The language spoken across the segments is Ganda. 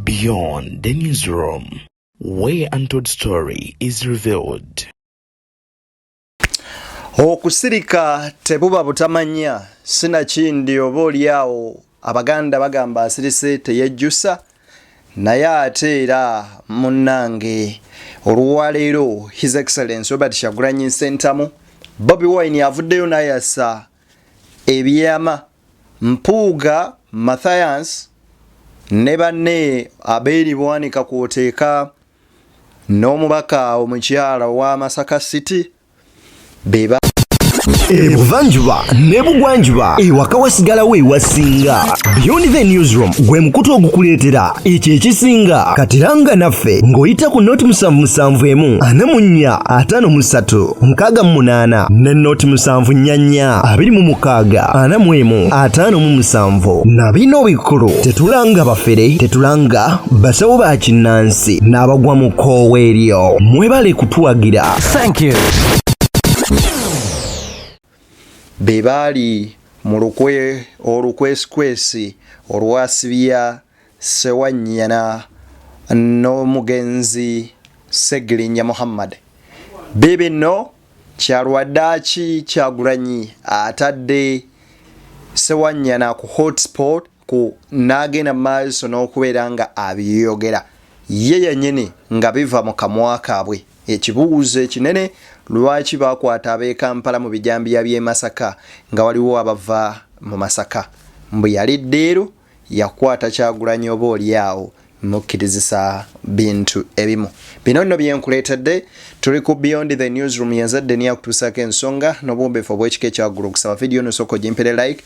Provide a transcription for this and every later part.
Beyond the newsroom, where untold story is revealed. Okusirika tebuba butamanya sinakindi oba olyawo Abaganda bagamba asirise teyejjusa naye ate era munnange olwaleero His Excellence Robert Kyagulanyi Ssentamu Bobi Wine avuddeyo nayasa ebyama Mpuuga Mathias ne banne Abeli Bwanika kwoteeka n'omubaka omukyala owa Masaka City beba ebuvanjuba nebugwanjuba ewaka wasigalawo ewasinga beyondive newsroom gwe mukutu ogukuleetera ekyo ekisinga katiranga naffe ng'oyita ku noti musanvu musanvu emu ana mu nnya ataano mu ssatu nkaaga mu munaana ne noti musanvu nnya nnya abiri mu mukaaga ana mu emu ataano mu musanvu na bino bikulu tetulanga bafere tetulanga basawo ba kinnansi n'abagwa mu koowa eryo mwebale kutuwagira Thank you. be baali mu lukwe olukwesikwesi olwasibya sewanyana n'omugenzi segirinya muhammad be bino kyalwaddaaki kyagulanyi atadde sewanyana ku hotsport ku n'agenda mu maaso n'okubeera nga abiyogera ye yennyini nga biva mu kamwa kaabwe. Ekibuuzo ekinene lwaki baakwata ab'e Kampala mu bijambiya by'e Masaka nga waliwo abava mu Masaka? Mbu yali ddiiru yakwata Kyagulanyi oba olyawo mukkirizisa bintu ebimu bino nno byenkuleetedde tuli ku beyond the newsroom yazadde niyo akutuusaako ensonga n'obuwombeefu obw'ekika ekyaggulu okusaba vidiyo nosooka ogimpere like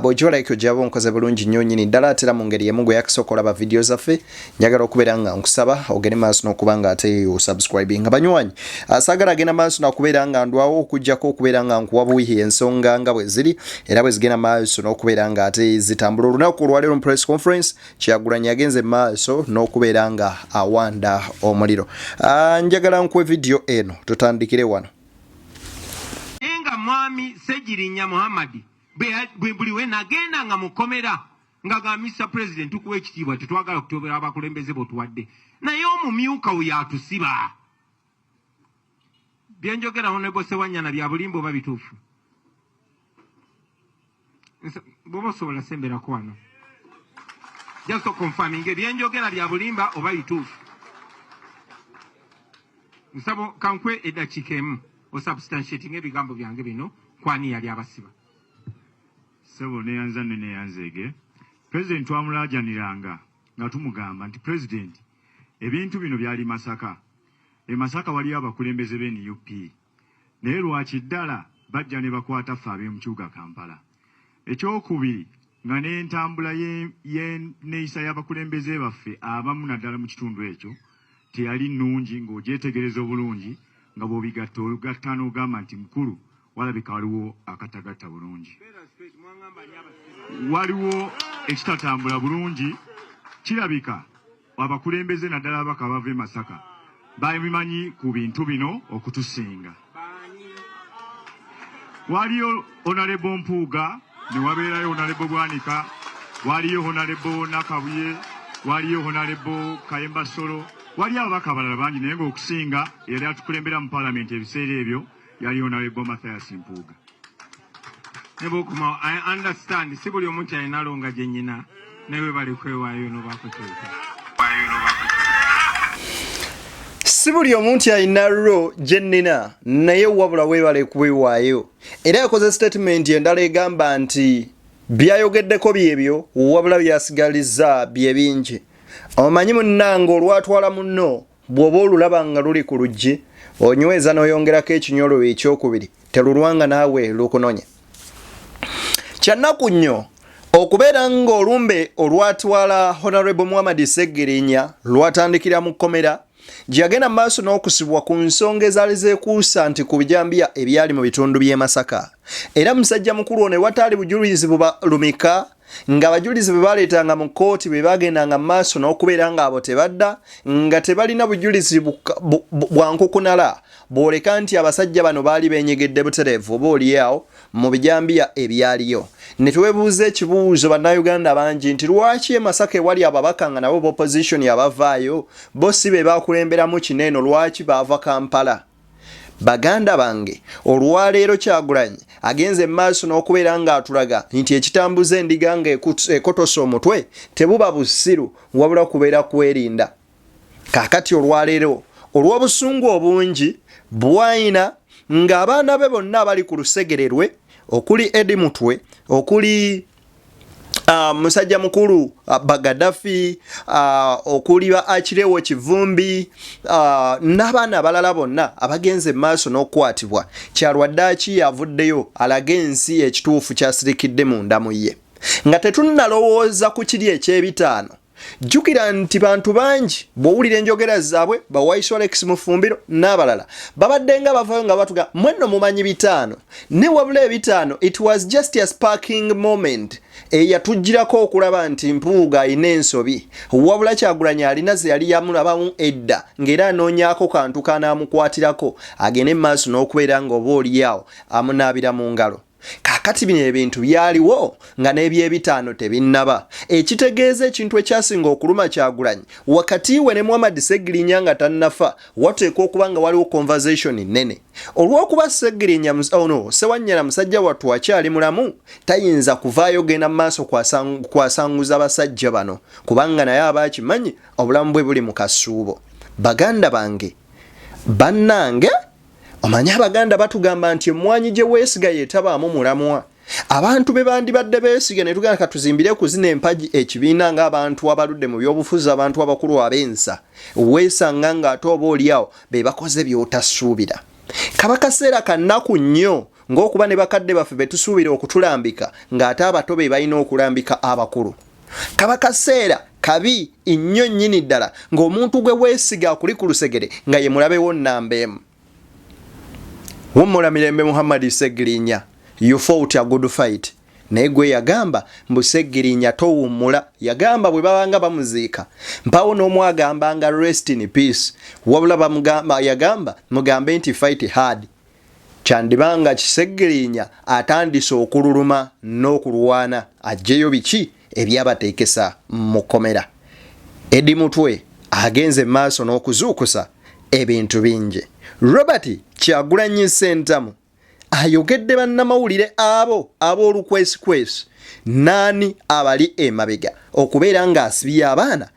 bw'ogiwa like ogyaba onkoze bulungi nnyo nnyini ddala atera mu ngeri emu gwe yakisooka olaba vidiyo zaffe njagala okubeera nga nkusaba ogende maaso n'okuba nga ate osubscribing nga banywanyi asaagala agenda maaso nakubeera nga ndwawo okujjako okubeera nga nkuwa buwihi ensonga nga bwe ziri era bwe zigenda maaso n'okubeera nga ate zitambula olunaku olwaleero mu press conference Kyagulanyi yagenze maaso n'okubeera nga awanda omuliro. Ah, njagala nkuwe vidiyo eno tutandikire wano. nga mwami Ssegirinya Muhammad buli we nagenda nga mukomera nga ga Mr President tukuwa ekitiibwa tetwagala kutobera abakulembeze botuwadde naye omumyuka oyo atusiba byenjogera honorable sewanyana bya bulimba oba bituufu bwoba osobola semberako wano just confirming ebyenjogera bya bulimba oba bituufu nsabo kankwe eddakiika emu osubstantiating ebigambo byange bino kwani yali abasiba sebo neyanza ne neyanzeege president twamulaajaniranga nga tumugamba nti president Ebintu bino byali Masaka. E Masaka waliyo abakulembeze be nup. Naye lwakyi ddala bajja nebakwata ffe abemkyuga Kampala. Ekyokubiri nga nentambula ye ye neyisa yabakulembeze baffe abamu naddala mukitundu ekyo teyali nungi nga ogyetegereza obulungi nga bwobigatta ogatta nogamba nti mukulu Walabika waliwo akatagatta bulungi, waliwo ekitatambula bulungi. Kirabika abakulembeze naddala ababaka abava e Masaka babimanyi ku bintu bino okutusinga. Waliyo Onalebo Mpuuga, ne wabeerayo Onalebo Bwanika, waliyo Onalebo Nakabuye, waliyo Onalebo Kayemba Solo, waliyo ababaka abalala bangi, naye ng'okusinga eyali atukulembera mu palamenti ebiseera ebyo yaliyo nawe bo Mathias Mpuuga ne bwokomawo I understand si buli omu nti alina longa gye nyina naye webale kwewaayo nobakutuuka si buli omu nti alina ro gye nnina naye wabula webale kuwewaayo era yakoze sitatimenti endala egamba nti byayogeddeko byebyo wabula byasigaliza bye bingi omanyi munnange olwatwala munno Bw'oba olulaba nga luli ku luggi, onyweza n'oyongerako ekinyololo ekyokubiri, telulwanga naawe lukunonye. Kyannaku nnyo okubeera ng'olumbe olwatwala Honorable Muhammad Ssegirinya lwatandikira mu kkomera gye yagenda mu maaso n'okusibwa ku nsonga ezaali zeekuusa nti ku bijambiya ebyali mu bitundu by'e Masaka era musajja mukulu ono ewataali bujulizi bubalumika ng'abajulizi bwe baleetanga mu kkooti bwe baagendanga mu maaso n'okubeera ng'abo tebadda nga tebalina bujulizi bwa nkukunala bwoleka nti abasajja bano baali benyegedde butereevu oba olyawo mu bijambiya ebyaliyo ne twebuuza ekibuuzo bannayuganda bangi nti lwaki e masaka ewali ababaka nga nabo bopozisoni abavaayo bo si be baakulemberamu kino eno lwaki baava kampala Baganda bange olwaleero Kyagulanyi agenze maaso n'okubeera ng'atulaga nti ekitambuza endiga ng'ekotose omutwe tebuba busiru wabula kubeera kwerinda. Kaakati olwaleero olw'obusungu obungi bw'alina ng'abaana be bonna abali ku lusegere lwe okuli Eddie Mutwe, okuli uh, musajja mukulu uh, ah, bagadafi uh, ah, okuli ba akirewo kivumbi uh, n'abaana abalala bonna abagenze maaso n'okukwatibwa kyalwaddaki yavuddeyo alaga ensi ekituufu kyasirikidde munda mu ye nga tetunnalowooza ku kiri eky'ebitaano jjukira nti bantu bangi bw'owulira enjogera zaabwe bawaiso alex mufumbiro n'abalala babadde nga bavayo nga batuga mwenno mumanyi bitaano ne wabula ebitaano it was just a sparking moment eyatugirako okulaba nti mpuuga alina ensobi wabula kyagulanyi alina ze yali yamulabamu edda ng'era anoonyako kantu kanaamukwatirako agende mu maaso n'okubeera ng'oba olyawo amunaabira mu ngalo Kaakati bino ebintu byaliwo nga n'ebyebitaano tebinnaba, ekitegeeza ekintu ekyasinga okuluma Kyagulanyi wakati we ne Muhammad Ssegirinya nga tannafa wateekwa okuba nga waliwo conversation nnene. Olw'okuba Ssegirinya, oh no, Ssewanyana musajja wattu akyali mulamu, tayinza kuvaayo genda mu maaso kwasanguza basajja bano kubanga naye aba akimanyi obulamu bwe buli mu kasuubo. Baganda bange! Bannange! omanyi abaganda batugamba nti emwanyi gye weesiga yetabaamu mulamwa abantu be bandibadde beesiga ne tugenda katuzimbire kuzina empagi ekibiina ng'abantu abaludde mu byobufuzi abantu abakulu ab'ensa weesanga ng'ate oba oliawo be bakoze by'otasuubira kaba kaseera kannaku nnyo ng'okuba ne bakadde baffe be tusuubira okutulambika ng'ate abato be balina okulambika abakulu kaba kaseera kabi nnyo nnyini ddala ng'omuntu gwe weesiga akuli ku lusegere nga ye mulabewo nnamba emu wumula mirembe muhammadi segirinya yufa otya good fight naye gwe yagamba mbu segirinya towummula yagamba bwe babanga bamuziika mpawo n'omu agambanga rest in peace wabula yagamba mugambe nti fight hard Kyandiba nga Kiseggirinya atandise okululuma n'okulwana aggyeyo biki ebyabateekesa mu kkomera. Eddie Mutwe agenze mu maaso n'okuzuukusa ebintu bingi. Robert Kyagulanyi Ssentamu ayogedde bannamawulire abo ab'olukwesikwesi n'ani abali emabega okubeera ng'asibye abaana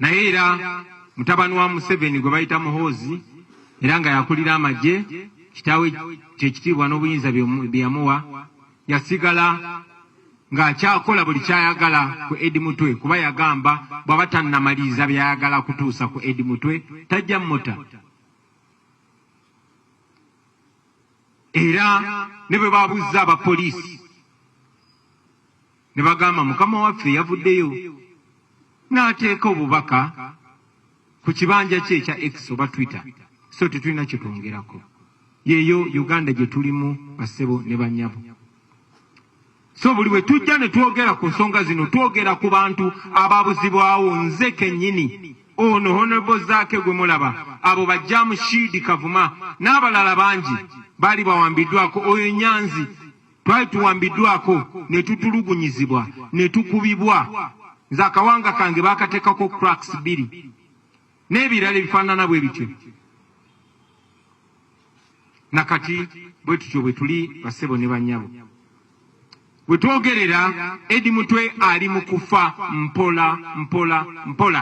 Naye era mutabani wa Museveni gwe bayita Muhoozi era nga yakulira amagye kitaawe kyekitiibwa n'obuyinza bye yamuwa yasigala ng'akyakola buli kyayagala ku Edi Mutwe kuba yagamba bw'aba tannamaliriza by'ayagala kutuusa ku Edi Mutwe tajja muta era ne bwe baabuzza abapoliisi Ne bagamba Mukama waffe yavuddeyo n'ateeka obubaka ku kibanja kye ekya X oba Twitter, so tetulina kye twongerako. Yeeyo Uganda gye tulimu bassebo ne bannyabo. So buli bwe tujja ne twogera ku nsonga zino twogera ku bantu ababuzibwawo nze kennyini ono Honorable Zaake gwe mulaba abo bajjaamu Shiidi Kavuma n'abalala bangi baali bawambiddwako oyo Nyanzi Twali tuwambiddwako ne tutulugunyizibwa ne tukubibwa, nze akawanga kange baakateekako cracks bbiri n'ebirala ebifaanana bwe bityo. Na kati bwe tutyo bwe tuli bassebo ne bannyabo. We twogerera Eddy Mutwe ali mu kufa mpola mpola mpola.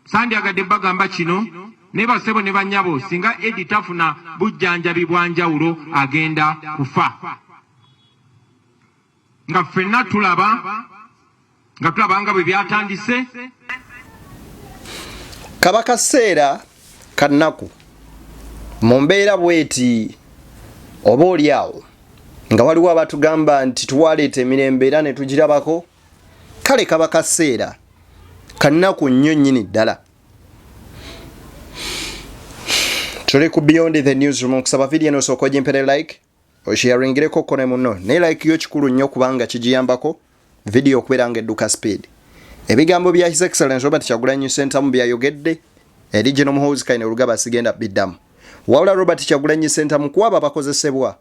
sandyagadde bagamba kino naye basebo ne banyabo singa edi tafuna bujjanjabi bwanjawulo agenda kufa nga ffenna tulaba nga tulaba nga bwe byatandise kaba kaseera kannaku mu mbeera bweti oba oli awo nga waliwo abatugamba nti twaleeta emirembe era ne tugirabako kale kaba kaseera kanaku nnyo nnyini ddala tuli ku beyond the newsroom okusaba vidiyo eno osooka ogimpere like osharingireko ko ne muno naye like yo kikulu nnyo kubanga kigiyambako vidiyo okubeera nga edduka speed ebigambo bya his excellence robert kyagulanyi sentamu byayogedde eri gino muhoozi kaine olugaba sigenda biddamu wabula robert kyagulanyi sentamu kuwaba bakozesebwa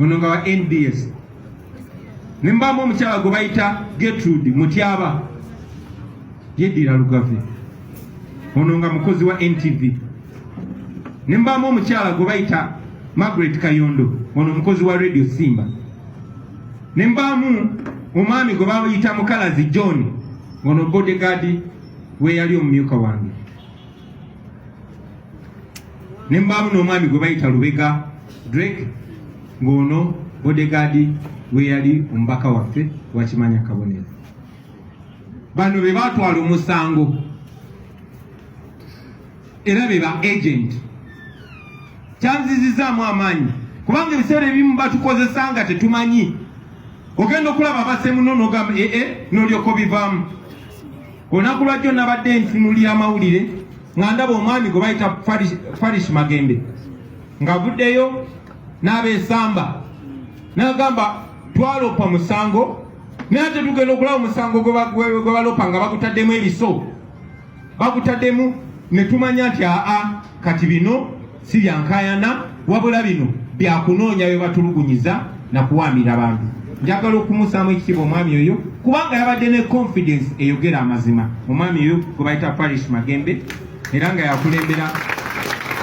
ono nga wa nbs nembamu omukyala gwe bayita Gertrude Mutyaba yeddira Lugave ono nga mukozi wa NTV nembamu omukyala gwe bayita Margaret Kayondo ono mukozi wa Radio Simba nembamu omwami gwe bayita Mukalazi John ono bodyguard we yali omumyuka wange ne mbaamu n'omwami gwe bayita lubega drake ng'ono bodegaadi we yali omubaka waffe wakimanya kabonero bano be baatwala omusango era be ba agenti kyanzizizaamu amaanyi kubanga ebiseera ebimu batukozesa nga tetumanyi ogenda okulaba abasemuno nogamba ee eh, eh, nolyoka obivaamu Olunaku lwajjo nabadde ntunulira amawulire nga ndaba omwami gwe bayita Farish Magembe ngavuddeyo n'abeesamba n'agamba twaloopa musango naye ate tugenda okulaba omusango gwe baloopa nga bagutaddemu ebiso bagutaddemu ne tumanya nti aa kati bino si bya nkayana wabula bino byakunoonya bye batulugunyiza na kuwaamira bantu njagala okumusaamu ekitiibwa omwami oyo kubanga yabadde ne confidence eyogera amazima omwami oyo gwe bayita parish magembe era nga yakulembera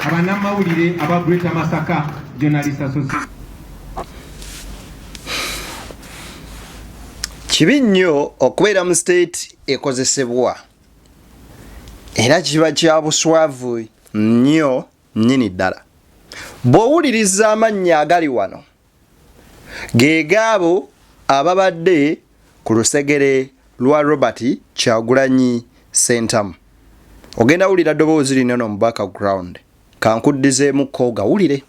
abanamawulire aba greater masaka journalist association kibi nnyo okubeera mu state ekozesebwa era kiba kya buswavu nnyo nnyini ddala bw'owuliriza amannya agali wano ge gaabo ababadde ku lusegere lwa robert kyagulanyi sentamu ogenda wulira ddoboozi lino no mu background kankuddizeemu kooga wulire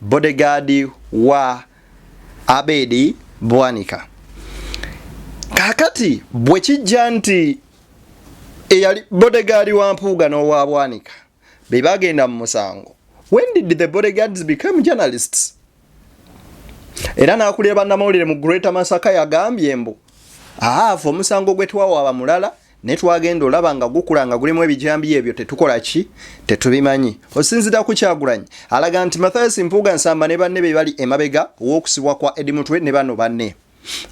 bodyguard wa Abedi Bwanika kakati bwe kijja nti eyali bodyguard wa Mpuuga n'owa Bwanika be bagenda mu musango when did the bodyguards become journalists era n'akulira bannamawulire mu Greater Masaka yagambye mbu ahaava omusango gwe twawaaba mulala naye twagenda olaba nga gukula nga gulimu ebijambiya ebyo tetukola ki tetubimanyi osinzira ku kyagulanyi alaga nti mathias mpuuga nsamba ne banne be bali emabega w'okusibwa kwa edi mutwe ne bano banne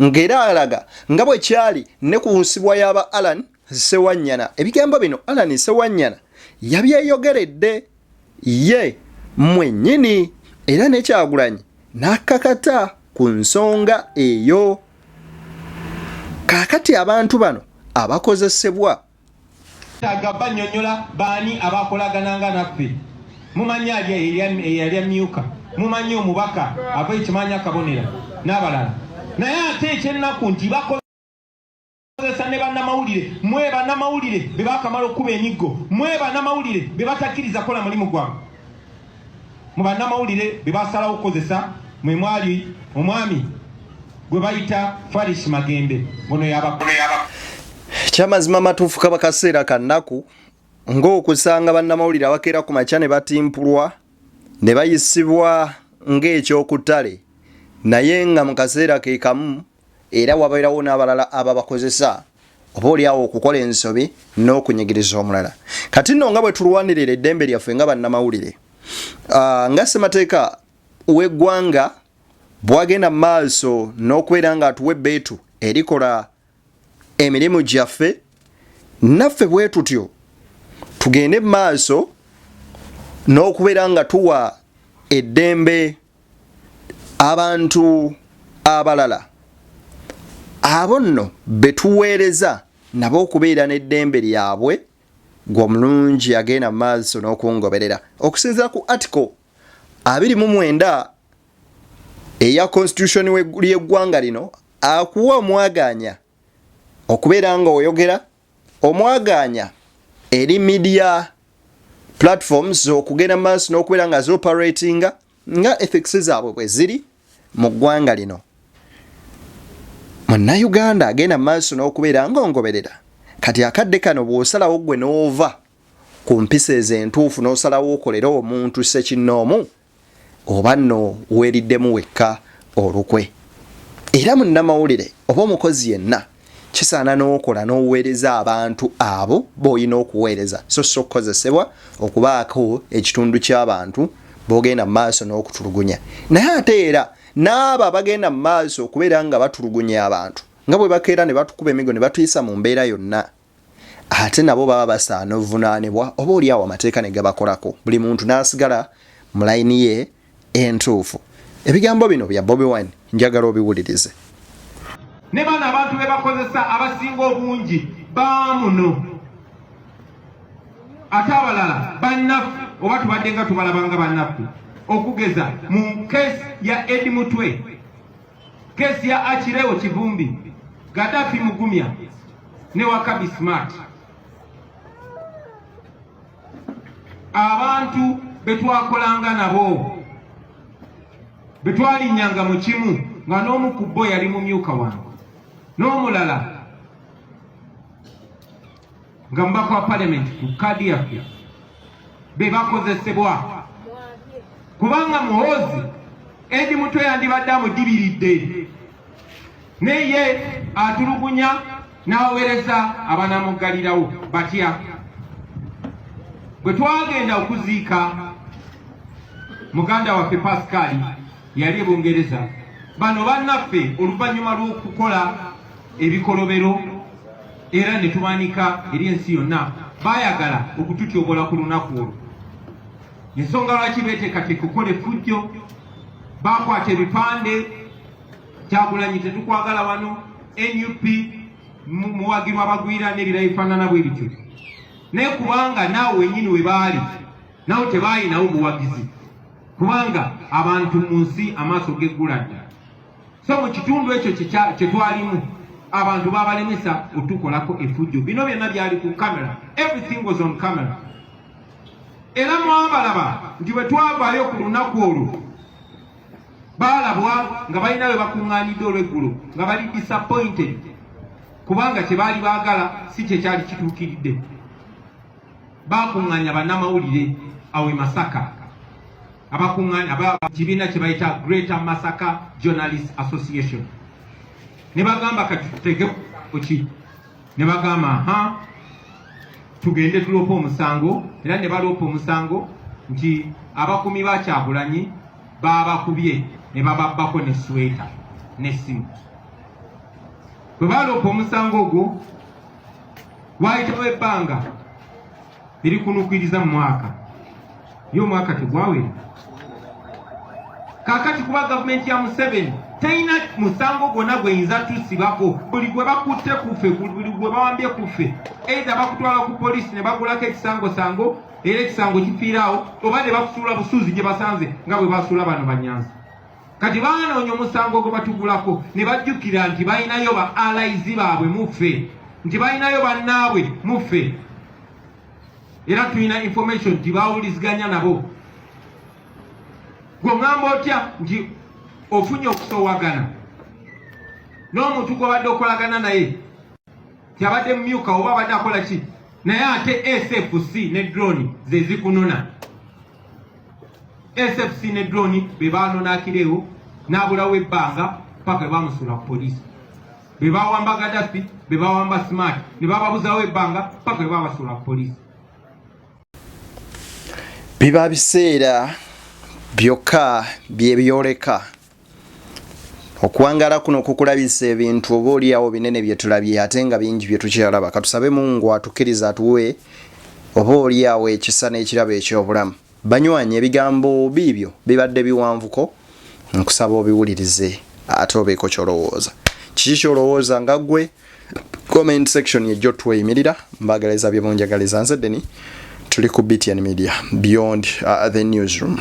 ng'era alaga nga bwe kyali ne ku nsibwa y'aba alan sewanyana ebigambo bino alan sewanyana yabyeyogeredde ye mwennyini era ne Kyagulanyi n'akakata ku nsonga eyo. Kaakati abantu bano abakozesebwa. Twetaaga bannyonnyola baani abaakolagananga naffe. Mumanyi ali eyali amyuka, mumanyi omubaka ava e Kimaanya Kabonera n'abalala naye ate ekyennaku nti bakoze. kozesa ne bannamawulire mwe bannamawulire be bakamala okukuba emiggo mwe bannamawulire be batakkiriza kukola mulimu gwabwe mu bannamawulire be basalawo okukozesa mwe mwali omwami gwe bayita faris magembe ono yabakulu yaba kyamazima matuufu kaba kaseera ka nnaku ng'okusanga bannamawulire abakeera ku makya ne batimpulwa ne bayisibwa ng'ekyokuttale naye nga mu kaseera ke kamu Era wabeerawo n'abalala ababakozesa, oba oli awo okukola ensobi n'okunyigiriza omulala. Kati nno nga bwe tulwanirira eddembe lyaffe nga bannamawulire, ah, nga ssemateeka w'eggwanga bwagenda mu maaso n'okubeera ng'atuwa ebbeetu erikola emirimu gyaffe, naffe bwe tutyo tugende mu maaso n'okubeera nga tuwa eddembe abantu abalala abo nno be tuweereza nabo okubeera n'eddembe lyabwe gwe omulungi agenda mu maaso n'okungoberera okusinzira ku article abiri mu mwenda eya constitution ly'eggwanga lino akuwa omwagaanya okubeera nga oyogera Omwagaanya eri media platforms okugenda mu maaso n'okubeera nga zioperatinga nga ethics zaabwe bwe ziri mu ggwanga lino munnayuganda agenda mu maaso n'okubeera ng'ongoberera kati akadde kano bw'osalawo ggwe n'ova ku mpisa ezo entuufu n'osalawo okolere omuntu ssekinnoomu oba nno weeriddemu wekka olukwe. Era munnamawulire oba omukozi yenna kisaana n'okola n'oweereza abantu abo b'olina okuweereza so si okukozesebwa okubaako ekitundu ky'abantu b'ogenda mu maaso n'okutulugunya. Naye ate era n'abo abagenda mu maaso okubeera nga batulugunya abantu nga bwe bakeera ne batukuba emigo ne batuyisa mu mbeera yonna. ate nabo baba basaana ovunaanibwa oba oli awo amateeka ne gabakolako buli muntu n'asigala mu layini ye entuufu ebigambo bino bya bobi wine njagala obiwulirize ne bano abantu be bakozesa abasinga obungi baamuno ate abalala bannaffe oba tubadde nga tubalabanga bannaffe okugeza mu keesi ya edi mutwe Kesi ya Achileo Kivumbi, Gaddafi Mugumya ne Wakabi Smart abantu betwakolanga nabo betwalinyanga mu kimu nga n'omu ku bo yali mumyuka wange n'omulala nga mubaka wa palamenti ku kaadi yaffe be bakozesebwa kubanga muhoozi edi mutwe yandibadde amudibiridde naye ye atulugunya n'aweereza abanamuggalirawo batya bwe twagenda okuziika muganda waffe pasikaali yali e bungereza bano bannaffe oluvannyuma lw'okukola ebikolobero era ne tubanika eri ensi yonna baayagala okututyobola ku lunaku olwo ensonga lwaki beeteekateeka okukola effujjo baakwata ebipande kyagulanyi tetukwagala wano nup muwagirwa abagwira n'ebira ebifaanana bwe bityo naye kubanga naawe wenyini we baali nawe tebaayinawo buwagizi kubanga abantu mu nsi amaaso geggula dda so mu kitundu ekyo kye twalimu abantu babalemesa otukolako efujjo bino byonna byali ku camera everything was on camera era mwabalaba nti bwe twavaayo ku lunaku olwo baalabwa nga balina bwe bakuŋŋaanidde olweggulo nga bali disappointed kubanga kye baali baagala si kye kyali kituukiridde baakuŋŋaanya bannamawulire awe masaka abakungaani aba kibiina kye bayita Greater Masaka Journalist Association ne bagamba kati tutege kuki ne bagamba ha tugende tuloopa omusango era ne baloopa omusango nti abakumi ba Kyagulanyi baabakubye ne bababbako ne sweta n'essimu bwe baaloopa omusango ogwo waayitawo ebbanga biri kunukiriza mu mwaka ye omwaka tegwawera kakati kuba gavumenti ya museveni teyina musango gwonna gweyinza tusibako buli gwe bakutte kuffe buli gwe bawambye kuffe eitha bakutwala ku polisi ne bagulako ekisangosango era ekisango kifiiraawo oba ne bakusuula busuuzi gye basanze nga bwe basuula bano banyanzi kati baanoonya omusango gwe batugulako ne bajjukira nti balinayo ba alaizi baabwe muffe nti balinayo bannaabwe muffe era tulina information nti bawuliziganya nabo gwe ŋŋamba otya nti ofunye okusowagana n'omuntu gwobadde okolagana naye kyabadde mumyuka oba abadde akola ki naye ate sfc ne drone zezikunona SFC ne drone be baanona Akireewo n'abulawo ebbanga paka bwe baamusuula ku poliisi be baawamba Gaddafi be baawamba Smart ne bababuzawo ebbanga paka bwe baabasuula ku poliisi biba biseera byokka bye byoleka okuwangala kuno kukulabisa ebintu oba oliawo binene byetulabye ate nga bingi byetukyalaba katusabe mungu atukiriza atuwe oba oliawo ekisa n'ekirabo ekyobulamu banywanyi ebigambo biibyo bibadde biwanvuko nkusaba obiwulirize ate obeeko kyolowooza kiki kyolowooza nga gwe comment section yejjo tweyimirira mbagalaiza byemunjagaliza nze deni tuli ku btn media beyond uh, the newsroom